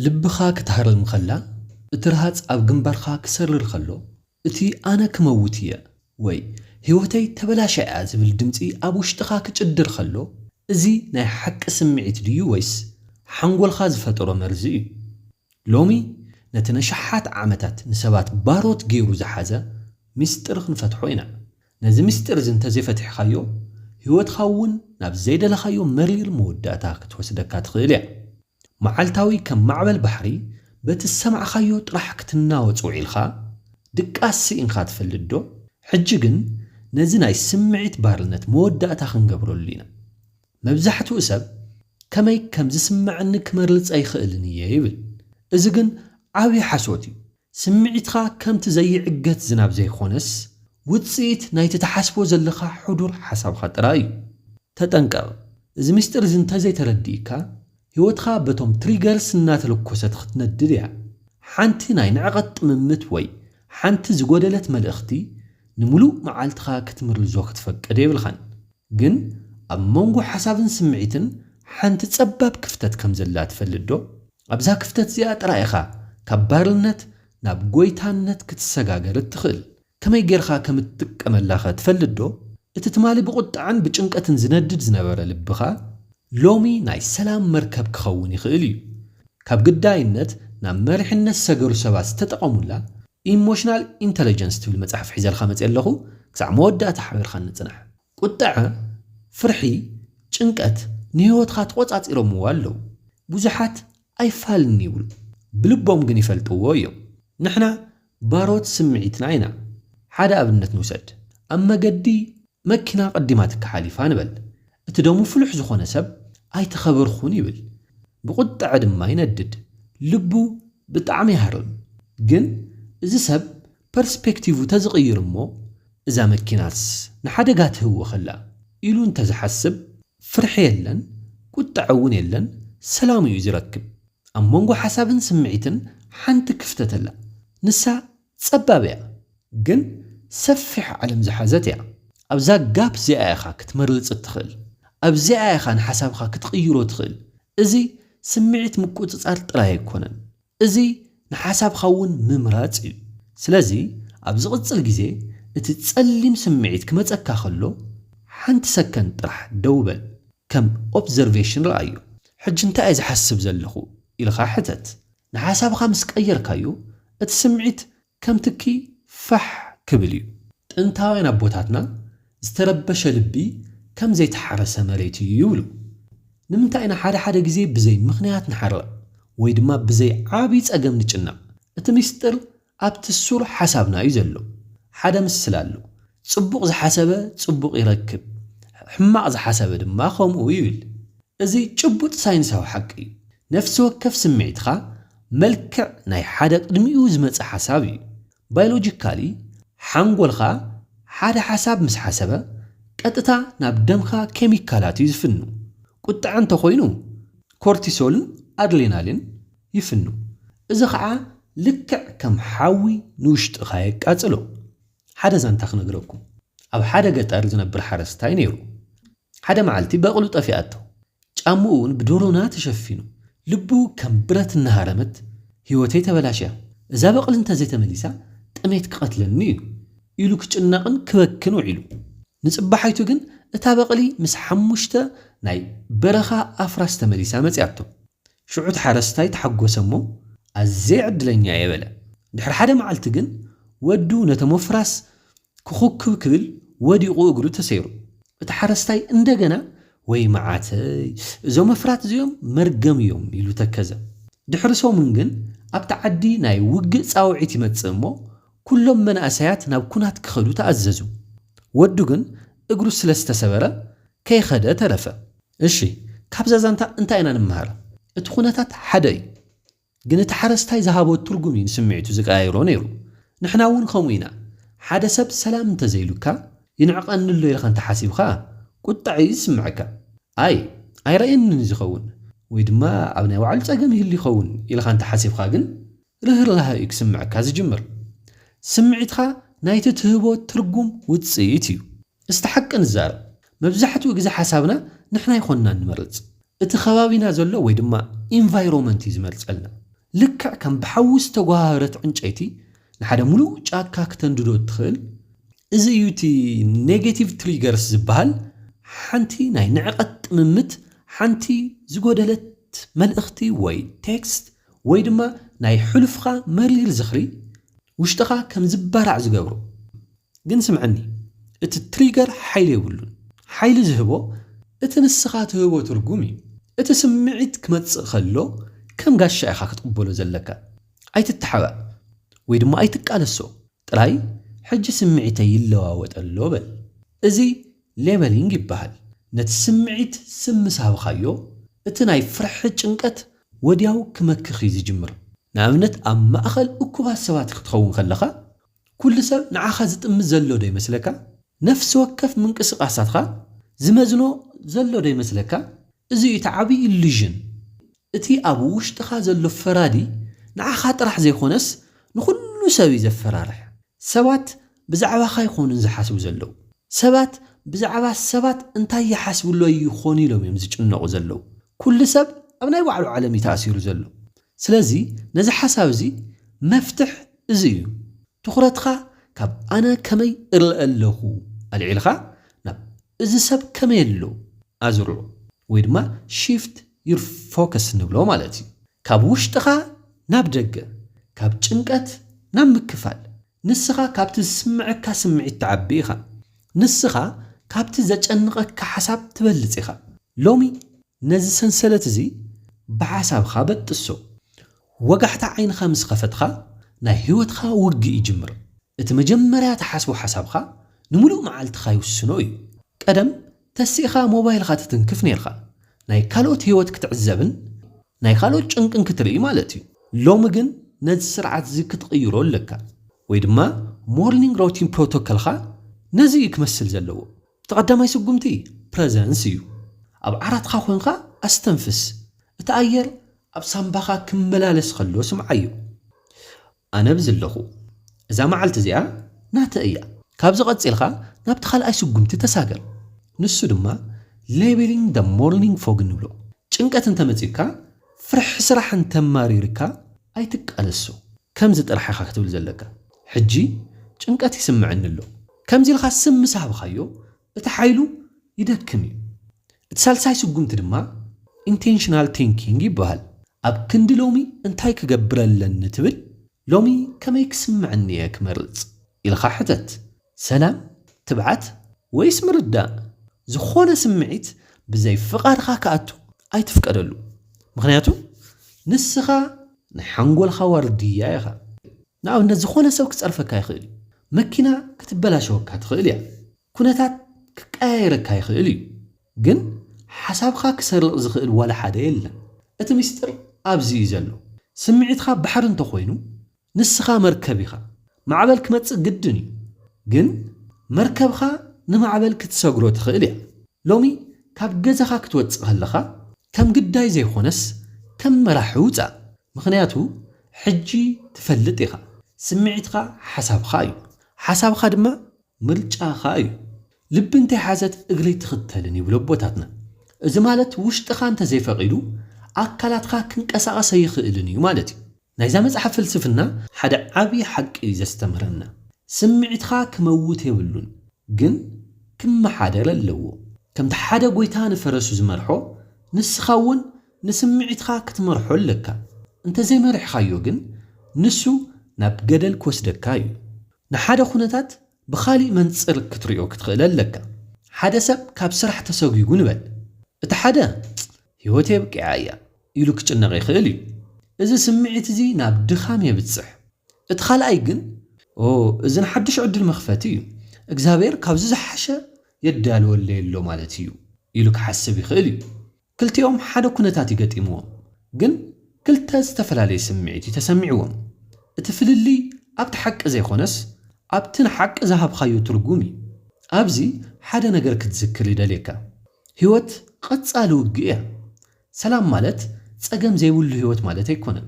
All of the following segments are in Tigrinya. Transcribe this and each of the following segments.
ልብኻ ክትሃርም ከላ፣ እቲ ረሃጽ ኣብ ግንባርካ ክሰርር ከሎ፣ እቲ ኣነ ክመውት እየ ወይ ህይወተይ ተበላሽያ'ያ ዝብል ድምጺ ኣብ ውሽጥኻ ክጭድር ከሎ፣ እዚ ናይ ሓቂ ስምዒት ድዩ ወይስ ሓንጎልካ ዝፈጠሮ መርዚ እዩ? ሎሚ ነቲ ነሽሓት ዓመታት ንሰባት ባሮት ገይሩ ዝሓዘ ምስጢር ክንፈትሖ ኢና። ነዚ ምስጢር'ዚ እንተዘይፈቲሕካዮ፣ ህይወትካ'ውን ናብ ዘይደለኻዮ መሪር መወዳእታ ክትወስደካ ትኽእል እያ። መዓልታዊ ከም ማዕበል ባሕሪ በቲ ዝሰማዕካዮ ጥራሕ ክትናወጽ ውዒልካ ድቃስ ስኢንካ ትፈልጥ ዶ? ሕጂ ግን ነዚ ናይ ስምዒት ባርነት መወዳእታ ክንገብረሉ ኢና። መብዛሕትኡ ሰብ ከመይ ከም ዝስመዐኒ ክመርልጽ ኣይኽእልን እየ ይብል። እዚ ግን ዓቢ ሓሶት እዩ። ስምዒትካ ከምቲ ዘይዕገት ዝናብ ዘይኮነስ ውጽኢት ናይቲ ትሓስቦ ዘለኻ ሕዱር ሓሳብካ ጥራይ እዩ። ተጠንቀቕ፣ እዚ ምስጢር እዚ እንተዘይተረዲእካ ህይወትካ በቶም ትሪገርስ እናተለኮሰት ኽትነድድ እያ። ሓንቲ ናይ ንዕቐት ጥምምት ወይ ሓንቲ ዝጎደለት መልእኽቲ ንምሉእ መዓልትኻ ክትምርዞ ክትፈቅድ የብልካን። ግን ኣብ መንጎ ሓሳብን ስምዒትን ሓንቲ ጸባብ ክፍተት ከም ዘላ ትፈልጥዶ? ኣብዛ ክፍተት እዚኣ ጥራይ ኢኻ ካብ ባርነት ናብ ጐይታነት ክትሰጋገር እትኽእል። ከመይ ጌርካ ከም እትጥቀመላኸ ትፈልጥዶ? እቲ ትማሊ ብቝጥዐን ብጭንቀትን ዝነድድ ዝነበረ ልብኻ፣ ሎሚ ናይ ሰላም መርከብ ክኸውን ይኽእል እዩ። ካብ ግዳይነት ናብ መሪሕነት ዝሰገሩ ሰባት ዝተጠቐሙላ ኢሞሽናል ኢንተለጀንስ ትብል መጽሓፍ ሒዘልካ መጺኣ ኣለኹ፣ ክሳዕ መወዳእታ ሓቢርካኒ ጽናሕ። ቁጠዐ፣ ፍርሒ፣ ጭንቀት ንህይወትካ ተቖጻጺሮምዎ ኣለዉ። ብዙሓት ኣይፋልን'ዩ ይብሉ፣ ብልቦም ግን ይፈልጥዎ እዮም። ንሕና ባሮት ስምዒትና ኢና። ሓደ ኣብነት ንውሰድ፣ ኣብ መገዲ መኪና ቀዲማትካ ሓሊፋ ንበል። እቲ ደሙ ፍሉሕ ዝኾነ ሰብ ኣይተኸበርኩን ይብል። ብቁጠዐ ድማ ይነድድ። ልቡ ብጣዕሚ ይሃርም። ግን እዚ ሰብ ፐርስፔክቲቭ ተዝቕይር እሞ እዛ መኪናስ ንሓደጋ ትህወኸላ ኢሉ እንተዝሓስብ ፍርሒ የለን ቁጠዐ እውን የለን ሰላም እዩ ዝረክብ። ኣብ መንጎ ሓሳብን ስምዒትን ሓንቲ ክፍተት ኣላ ንሳ ጸባብ እያ ግን ሰፊሕ ዓለም ዝሓዘት እያ። ኣብዛ ጋፕ እዚኣ ኢኻ ክትመርጽ እትኽእል። ኣብዚኣ ኢኻ ንሓሳብኻ ክትቕይሮ ትኽእል። እዚ ስምዒት ምቁጽጻር ጥራይ ኣይኮነን እዚ ንሓሳብካ እውን ምምራጽ እዩ። ስለዚ ኣብ ዝቕጽል ግዜ እቲ ጸሊም ስምዒት ክመጸካ ከሎ ሓንቲ ሰከንድ ጥራሕ ደው በል ከም ኦፕዘርቬሽን ርኣዮ። ሕጂ እንታይ እየ ዝሓስብ ዘለኹ ኢልካ ሕተት። ንሓሳብካ ምስ ቀየርካዮ እቲ ስምዒት ከም ትኪ ፋሕ ክብል እዩ። ጥንታውያን ኣቦታትና ዝተረበሸ ልቢ ከም ዘይተሓረሰ መሬት እዩ ይብሉ። ንምንታይ ኢና ሓደ ሓደ ግዜ ብዘይ ምኽንያት ንሓርቕ ወይ ድማ ብዘይ ዓቢ ጸገም ንጭነቕ? እቲ ሚስጥር ኣብቲ ሱር ሓሳብና እዩ ዘሎ። ሓደ ምስላ ኣሎ፣ ጽቡቕ ዝሓሰበ ጽቡቕ ይረክብ፣ ሕማቕ ዝሓሰበ ድማ ከምኡ ይብል። እዚ ጭቡጥ ሳይንሳዊ ሓቂ እዩ። ነፍሲ ወከፍ ስምዒትካ መልክዕ ናይ ሓደ ቅድሚኡ ዝመጸ ሓሳብ እዩ። ባዮሎጂካሊ፣ ሓንጎልካ ሓደ ሓሳብ ምስ ሓሰበ፣ ቀጥታ ናብ ደምካ ኬሚካላት እዩ ዝፍኑ። ቁጥዐ እንተ ኾይኑ፣ ኮርቲሶልን ኣድሌናሊን ይፍኑ። እዚ ኸኣ ልክዕ ከም ሓዊ ንውሽጥኻ የቃጽሎ። ሓደ ዛንታ ክነግረኩም ኣብ ሓደ ገጠር ዝነብር ሓረስታይ ነይሩ ሓደ መዓልቲ በቕሉ ጠፊኣቶ ጫምኡ ውን ብዶሮና ተሸፊኑ ልቡ ከም ብረት እናሃረመት ሂወተይ ተበላሽያ እዛ በቕሊ እንተዘይተመሊሳ ጥሜት ክቐትለኒ ዩ ኢሉ ክጭነቕን ክበክን ውዒሉ ንጽባሓይቱ ግን እታ በቕሊ ምስ ሓሙሽተ ናይ በረኻ ኣፍራስ ተመሊሳ መጺኣቶ ሽዑ እቲ ሓረስታይ ተሓጐሰ እሞ፣ ኣዝየ ዕድለኛ እየ በለ። ድሕሪ ሓደ መዓልቲ ግን ወዱ ነቶም ኣፍራስ ክዅብኵብ ክብል ወዲቑ እግሩ ተሰይሩ። እቲ ሓረስታይ እንደገና፣ ወይ መዓተይ! እዞም ኣፍራት እዚኦም መርገም እዮም ኢሉ ተከዘ። ድሕሪ ሰሙን ግን ኣብቲ ዓዲ ናይ ውግእ ጻውዒት ይመጽእ እሞ፣ ኵሎም መናእሰያት ናብ ኵናት ክኸዱ ተኣዘዙ። ወዱ ግን እግሩ ስለ ዝተሰበረ ከይኸደ ተረፈ። እሺ ካብዛ ዛንታ እንታይ ኢና ንመሃር? እቲ ኩነታት ሓደ እዩ ግን እቲ ሓረስታይ ዝሃቦ ትርጉም እዩ ንስምዒቱ ዝቀያይሮ ነይሩ። ንሕና እውን ከምኡ ኢና ሓደ ሰብ ሰላም እንተዘይሉካ ይንዕቀኒ ኣሎ ኢልካ እንተሓሲብካ ቁጠዐ እዩ ዝስመዐካ ኣይ ኣይረኣየንን እዩ ዝኸውን ወይ ድማ ኣብ ናይ ባዕሉ ፀገም ይህሉ ይኸውን ኢልካ እንተሓሲብካ ግን ርህራሀ እዩ ክስምዐካ ዝጅምር። ስምዒትካ ናይቲ ትህቦ ትርጉም ውጽኢት እዩ። እስቲ ሓቂ ንዛረብ፣ መብዛሕትኡ ግዜ ሓሳብና ንሕና ኣይኮንናን ንመርጽ። እቲ ከባቢና ዘሎ ወይ ድማ ኢንቫይሮመንት እዩ ዝመርጸልና። ልክዕ ከም ብሓዊ ዝተጎሃህረት ዕንጨይቲ ንሓደ ምሉእ ጫካ ክተንድዶ እትኽእል፣ እዚ እዩ እቲ ኔጌቲቭ ትሪገርስ ዝበሃል፣ ሓንቲ ናይ ንዕቀት ጥምምት፣ ሓንቲ ዝጎደለት መልእኽቲ ወይ ቴክስት፣ ወይ ድማ ናይ ሕሉፍኻ መሪር ዝኽሪ ውሽጥኻ ከም ዝባራዕ ዝገብሮ። ግን ስምዐኒ እቲ ትሪገር ሓይሊ የብሉን። ሓይሊ ዝህቦ እቲ ንስኻ ትህቦ ትርጉም እዩ። እቲ ስምዒት ክመጽእ ከሎ ከም ጋሻ ኢኻ ክትቕበሎ ዘለካ። ኣይትተሓባእ ወይ ድማ ኣይትቃለሶ። ጥራይ ሕጂ ስምዒተይ ይለዋወጥ ኣሎ በል። እዚ ሌበሊንግ ይበሃል። ነቲ ስምዒት ስም ምስ ሃብኻዮ፣ እቲ ናይ ፍርሒ ጭንቀት ወድያው ክመክኽ እዩ ዝጅምር። ንኣብነት ኣብ ማእከል እኩባት ሰባት ክትኸውን ከለኻ፣ ኩሉ ሰብ ንዓኻ ዝጥምት ዘሎ ዶ ይመስለካ? ነፍሲ ወከፍ ምንቅስቓሳትካ ዝመዝኖ ዘሎ ዶ ይመስለካ? እዚ እዩ እቲ ዓቢ ኢሉዥን። እቲ ኣብ ውሽጥኻ ዘሎ ፈራዲ ንዓኻ ጥራሕ ዘይኮነስ ንኹሉ ሰብ እዩ ዘፈራርሕ። ሰባት ብዛዕባኻ ኣይኮኑን ዝሓስቡ ዘለዉ። ሰባት ብዛዕባ ሰባት እንታይ ይሓስብሎይ ይኾኑ ኢሎም እዮም ዝጭነቑ ዘለዉ። ኩሉ ሰብ ኣብ ናይ ባዕሉ ዓለም እዩ ተኣሲሩ ዘሎ። ስለዚ ነዚ ሓሳብ እዚ መፍትሕ እዚ እዩ። ትኹረትኻ ካብ ኣነ ከመይ እርእ ኣለኹ ኣልዒልኻ ናብ እዚ ሰብ ከመይ ኣሎ ኣዝርዑ ወይ ድማ shift ዩር ፎከስ እንብሎ ማለት እዩ። ካብ ውሽጥኻ ናብ ደገ፣ ካብ ጭንቀት ናብ ምክፋል። ንስኻ ካብቲ ዝስምዐካ ስምዒት ትዓቢ ኢኻ። ንስኻ ካብቲ ዘጨንቐካ ሓሳብ ትበልፅ ኢኻ። ሎሚ ነዚ ሰንሰለት እዚ ብሓሳብኻ በጥሶ። ወጋሕታ ዓይንኻ ምስ ኸፈትኻ ናይ ህይወትኻ ውግእ ይጅምር። እቲ መጀመርያ ትሓስቦ ሓሳብኻ ንሙሉእ መዓልትኻ ይውስኖ እዩ። ቀደም ተሲእኻ ሞባይልኻ ትትንክፍ ኔርካ ናይ ካልኦት ሂወት ክትዕዘብን ናይ ካልኦት ጭንቅን ክትርኢ ማለት እዩ ሎሚ ግን ነዚ ስርዓት እዚ ክትቕይሮ ኣለካ ወይ ድማ ሞርኒንግ ሮቲን ፕሮቶከልኻ ነዚ እዩ ክመስል ዘለዎ እቲ ቀዳማይ ስጉምቲ ፕረዘንስ እዩ ኣብ ዓራትኻ ኮንካ ኣስተንፍስ እቲ ኣየር ኣብ ሳምባኻ ክመላለስ ከሎ ስምዓዮ። ኣነ ብዝለኹ እዛ መዓልቲ እዚኣ ናተይ እያ። ካብዚ ቀጺልካ ናብቲ ካልኣይ ስጉምቲ ተሳገር፣ ንሱ ድማ Labelling the Morning Fog ንብሎ። ጭንቀት እንተመጺኡካ፣ ፍርሒ ስራሕ እንተማሪሩካ ኣይትቃለሶ። ከምዚ ጥራሕ ኢኻ ክትብል ዘለካ፣ ሕጂ ጭንቀት ይስምዐኒ ኣሎ። ከምዚ ኢልካ ስም ምስ ሃብካዮ፣ እቲ ሓይሉ ይደክም እዩ። እቲ ሳልሳይ ስጉምቲ ድማ ኢንቴንሽናል ቲንኪንግ ይበሃል። ኣብ ክንዲ ሎሚ እንታይ ክገብር ኣለኒ ትብል፣ ሎሚ ከመይ ክስምዐኒ እየ ክመርፅ? ኢልኻ ሕተት። ሰላም፣ ትብዓት፣ ወይስ ምርዳእ? ዝኾነ ስምዒት ብዘይ ፍቓድኻ ክኣቱ ኣይትፍቀደሉ። ምኽንያቱ ንስኻ ናይ ሓንጎልኻ ዋርድያ ኢኻ። ንኣብነት ዝኾነ ሰብ ክፀርፈካ ይኽእል እዩ። መኪና ክትበላሸወካ ትኽእል እያ። ኩነታት ክቀያየረካ ይኽእል እዩ ግን ሓሳብኻ ክሰርቕ ዝኽእል ዋላ ሓደ የለን እቲ ሚስጥር ኣብዚ እዩ ዘሎ ስምዒትኻ ባሕሪ እንተኾይኑ ንስኻ መርከብ ኢኻ ማዕበል ክመጽእ ግድን እዩ ግን መርከብኻ ንማዕበል ክትሰግሮ ትኽእል እያ ሎሚ ካብ ገዛኻ ክትወጽእ ከለኻ ከም ግዳይ ዘይኾነስ ከም መራሒ ውጻእ ምኽንያቱ ሕጂ ትፈልጥ ኢኻ ስምዒትኻ ሓሳብኻ እዩ ሓሳብኻ ድማ ምርጫ ከኣ እዩ። ልቢ እንተይሓዘት እግሪ ኣይትኽተልን ይብሉ ኣቦታትና። እዚ ማለት ውሽጥኻ እንተዘይፈቒዱ ኣካላትካ ክንቀሳቐስ ኣይኽእልን እዩ ማለት እዩ። ናይዛ መጽሓፍ ፍልስፍና ሓደ ዓቢ ሓቂ እዩ ዘስተምህረና። ስምዒትካ ክመውት የብሉን ግን ክመሓደር ኣለዎ። ከምቲ ሓደ ጎይታ ንፈረሱ ዝመርሖ ንስኻ እውን ንስምዒትካ ክትመርሖ ኣለካ። እንተዘይመሪሕካዮ ግን ንሱ ናብ ገደል ክወስደካ እዩ። ንሓደ ኩነታት ብኻሊእ መንጽር ክትሪኦ ክትኽእል ኣለካ። ሓደ ሰብ ካብ ስራሕ ተሰጒጉ ንበል። እቲ ሓደ ህይወተይ ኣብቂዓ እያ ኢሉ ክጭነቕ ይኽእል እዩ። እዚ ስምዒት እዚ ናብ ድኻም የብጽሕ። እቲ ካልኣይ ግን ኦ እዚ ንሓድሽ ዕድል መኽፈቲ እዩ፣ እግዚኣብሔር ካብዚ ዝሓሸ የዳልወለይ ኣሎ ማለት እዩ ኢሉ ክሓስብ ይኽእል እዩ። ክልቲኦም ሓደ ኩነታት እዩ ገጢምዎም፣ ግን ክልተ ዝተፈላለየ ስምዒት እዩ ተሰሚዕዎም። እቲ ፍልልይ ኣብቲ ሓቂ ዘይኮነስ ኣብቲ ንሓቂ ዝሃብካዮ ትርጉም እዩ። ኣብዚ ሓደ ነገር ክትዝክር ይደልየካ። ህይወት ቐጻሊ ውግእ እያ። ሰላም ማለት ጸገም ዘይብሉ ህይወት ማለት ኣይኮነን።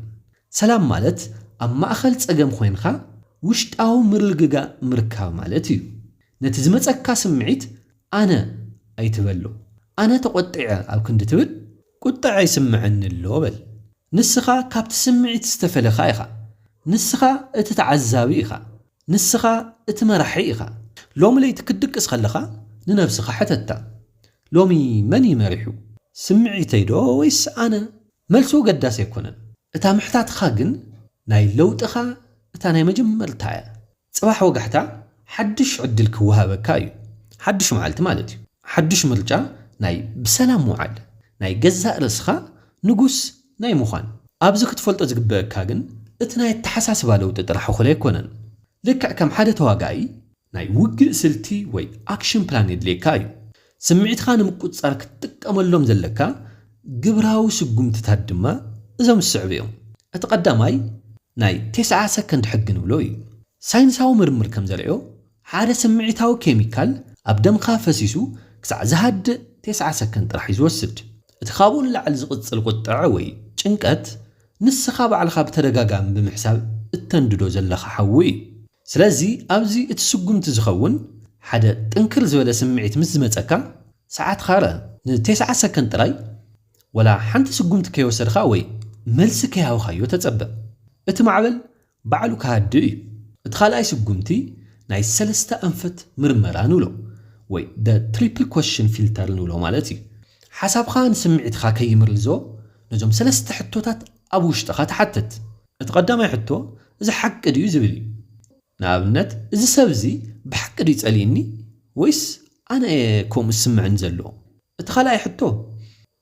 ሰላም ማለት ኣብ ማእኸል ጸገም ኾይንኻ ውሽጣዊ ምርግጋእ ምርካብ ማለት እዩ። ነቲ ዝመጸካ ስምዒት ኣነ ኣይትበሎ ኣነ ተቖጢዐ ኣብ ክንዲ ትብል ቁጠዐ ይስመዐኒ ኣሎ በል ንስኻ ካብቲ ስምዒት ዝተፈለኻ ኢኻ ንስኻ እቲ ተዓዛቢ ኢኻ ንስኻ እቲ መራሒ ኢኻ። ሎሚ ለይቲ ክትድቅስ ከለኻ ንነብስኻ ሕተታ ሎሚ መን እዩ መሪሑ ስምዒተይ ዶ ወይስ ኣነ መልሱ ኣገዳሲ ኣይኮነን እታ ምሕታትኻ ግን ናይ ለውጥኻ እታ ናይ መጀመርታ እያ ጽባሕ ወጋሕታ ሓድሽ ዕድል ክወሃበካ እዩ ሓድሽ መዓልቲ ማለት እዩ ሓድሽ ምርጫ ናይ ብሰላም ምውዓል ናይ ገዛእ ርእስኻ ንጉስ ናይ ምዃን ኣብዚ ክትፈልጦ ዝግበእካ ግን እቲ ናይ ኣተሓሳስባ ለውጢ ጥራሕ እኹል ኣይኮነን ልክዕ ከም ሓደ ተዋጋኢ ናይ ውግእ ስልቲ ወይ ኣክሽን ፕላን የድልየካ እዩ ስምዒትካ ንምቁጽጻር ክትጥቀመሎም ዘለካ ግብራዊ ስጉምትታት ድማ እዞም ዝስዕቡ እዮም። እቲ ቀዳማይ ናይ ቴስዓ ሰከንድ ሕጊ ንብሎ እዩ። ሳይንሳዊ ምርምር ከም ዘርእዮ ሓደ ስምዒታዊ ኬሚካል ኣብ ደምካ ፈሲሱ ክሳዕ ዝሃድእ ቴስዓ ሰከንድ ጥራሕ እዩ ዝወስድ። እቲ ካብኡ ንላዕሊ ዝቕጽል ቁጠዐ ወይ ጭንቀት ንስኻ ባዕልኻ ብተደጋጋሚ ብምሕሳብ እተንድዶ ዘለኻ ሓዊ እዩ። ስለዚ ኣብዚ እቲ ስጉምቲ ዝኸውን ሓደ ጥንክር ዝበለ ስምዒት ምስ ዝመጸካ ሰዓትካ ርእ ን ቴስዓ ሰከንድ ጥራይ ወላ ሓንቲ ስጉምቲ ከይወሰድኻ ወይ መልሲ ከይሃብካዮ ተጸበ እቲ ማዕበል ባዕሉ ክሃድእ እዩ። እቲ ካልኣይ ስጉምቲ ናይ ሰለስተ ኣንፈት ምርመራ ንብሎ ወይ the triple question filter ንብሎ ማለት እዩ። ሓሳብኻ ንስምዒትኻ ከይምርዞ ነዞም ሰለስተ ሕቶታት ኣብ ውሽጥኻ ትሓትት። እቲ ቀዳማይ ሕቶ እዚ ሓቂ ድዩ ዝብል እዩ። ንኣብነት እዚ ሰብ እዚ ብሓቂ ድዩ ጸሊእኒ ወይስ ኣነ እየ ከምኡ ዝስምዕኒ ዘሎ? እቲ ካልኣይ ሕቶ፣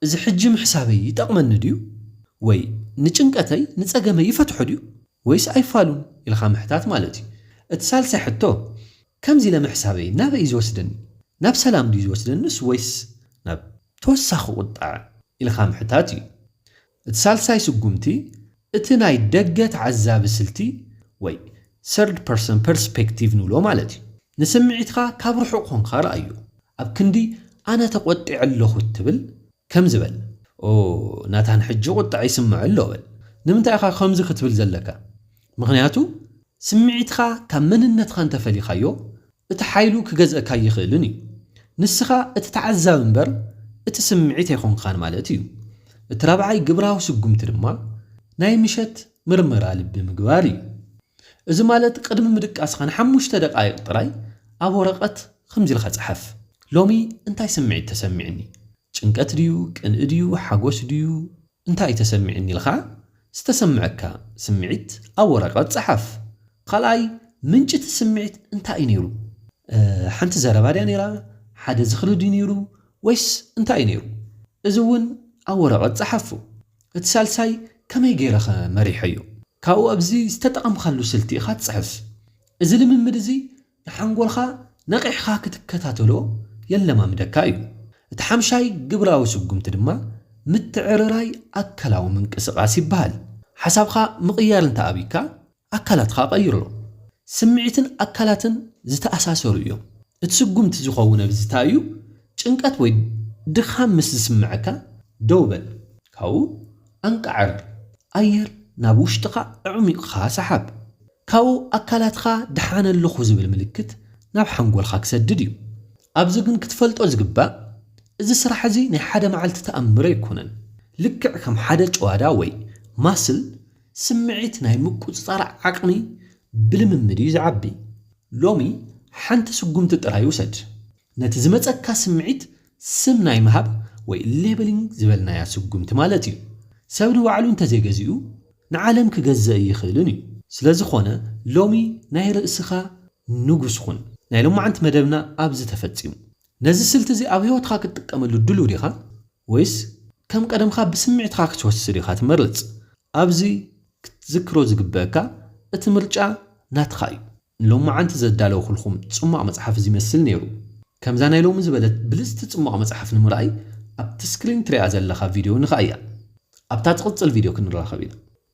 እዚ ሕጂ ምሕሳበይ ይጠቕመኒ ድዩ? ወይ ንጭንቀተይ ንጸገመይ ይፈትሖ ድዩ? ወይስ ኣይፋሉን? ኢልካ ምሕታት ማለት እዩ። እቲ ሳልሳይ ሕቶ፣ ከምዚ ኢለ ምሕሳበይ ናበይ እዩ ዝወስደኒ? ናብ ሰላም ድዩ ዝወስደኒስ ወይስ ናብ ተወሳኺ ቁጠዐ? ኢልካ ምሕታት እዩ። እቲ ሳልሳይ ስጉምቲ እቲ ናይ ደገ ተዓዛቢ ስልቲ ወይ Third Person Perspective ንብሎ ማለት እዩ። ንስምዒትካ ካብ ርሑቕ ኮንካ ርኣዮ። ኣብ ክንዲ ኣነ ተቖጢዐ ኣለኹ እትብል፣ ከምዚ በል፣ ኦ፣ ናታን ሕጂ ቁጠዐ ይስምዖ ኣሎ በል። ንምንታይ ኢኻ ከምዚ ክትብል ዘለካ? ምኽንያቱ ስምዒትኻ ካብ መንነትኻ እንተፈሊኻዮ እቲ ሓይሉ ክገዝእካ ኣይኽእልን እዩ። ንስኻ እቲ ተዓዛቢ እምበር እቲ ስምዒት ኣይኮንካን ማለት እዩ። እቲ ራብዓይ ግብራዊ ስጉምቲ ድማ ናይ ምሸት ምርመራ ልቢ ምግባር እዩ። እዚ ማለት ቅድሚ ምድቃስኻ ንሓሙሽተ ደቓይቕ ጥራይ ኣብ ወረቐት ኸምዚ ኢልካ ጽሓፍ፣ ሎሚ እንታይ ስምዒት ተሰሚዑኒ? ጭንቀት ድዩ? ቅንኢ ድዩ? ሓጎስ ድዩ? እንታይ እዩ ተሰሚዑኒ ኢልካ ዝተሰምዐካ ስምዒት ኣብ ወረቐት ፀሓፍ። ካልኣይ፣ ምንጪ እቲ ስምዒት እንታይ እዩ ነይሩ? ሓንቲ ዘረባ ድያ ነይራ? ሓደ ዝኽሪ ድዩ ነይሩ? ወይስ እንታይ እዩ ነይሩ? እዚ እውን ኣብ ወረቐት ፀሓፎ። እቲ ሳልሳይ፣ ከመይ ገይረ ከ መሪሐዮ? ካብኡ ኣብዚ ዝተጠቐምካሉ ስልቲ ኢኻ ትፅሕፍ። እዚ ልምምድ እዚ ንሓንጎልካ ነቒሕካ ክትከታተሎ የለማምደካ እዩ። እቲ ሓምሻይ ግብራዊ ስጉምቲ ድማ ምትዕርራይ ኣካላዊ ምንቅስቓስ ይበሃል። ሓሳብካ ምቕያር እንተ ኣብይካ፣ ኣካላትካ ቀይሮ። ስምዒትን ኣካላትን ዝተኣሳሰሩ እዮም። እቲ ስጉምቲ ዝኸውን ኣብዝታ እዩ፣ ጭንቀት ወይ ድኻም ምስ ዝስምዐካ ደው በል፣ ካብኡ ኣንቃዕር፣ ኣየር ናብ ውሽጥኻ ኣዕሚቕካ ሰሓብ። ካብኡ ኣካላትካ ደሓን ኣለኹ ዝብል ምልክት ናብ ሓንጎልካ ክሰድድ እዩ። ኣብዚ ግን ክትፈልጦ ዝግባእ እዚ ስራሕ እዚ ናይ ሓደ መዓልቲ ተኣምር ኣይኮነን። ልክዕ ከም ሓደ ጭዋዳ ወይ ማስል ስምዒት ናይ ምቁጽጻር ዓቕሚ ብልምምድ እዩ ዝዓቢ። ሎሚ ሓንቲ ስጉምቲ ጥራይ ውሰድ። ነቲ ዝመጸካ ስምዒት ስም ናይ ምሃብ ወይ ሌበሊንግ ዝበልናያ ስጉምቲ ማለት እዩ። ሰብ ንባዕሉ እንተዘይገዚኡ ንዓለም ክገዝእ ኣይኽእልን እዩ። ስለዝኾነ ሎሚ ናይ ርእስኻ ንጉስ ኹን። ናይ ሎማዕንቲ መደብና ኣብዚ ተፈጺሙ። ነዚ ስልቲ እዚ ኣብ ህይወትኻ ክትጥቀመሉ ድሉው ዲኻ ወይስ ከም ቀደምካ ብስምዒትካ ክትወስድ ኢኻ ትመርጽ? ኣብዚ ክትዝክሮ ዝግበእካ እቲ ምርጫ ናትኻ እዩ። ንሎማዓንቲ ዘዳለውኩልኩም ጽሟቕ መጽሓፍ እዚ ይመስል ነይሩ። ከምዛ ናይ ሎሚ ዝበለት ብልጽቲ ጽሟቕ መጽሓፍ ንምርኣይ ኣብቲ ስክሪን ትሪኣ ዘለኻ ቪድዮ ንክኣያ። ኣብታ ትቕጽል ቪድዮ ክንራኸብ ኢና።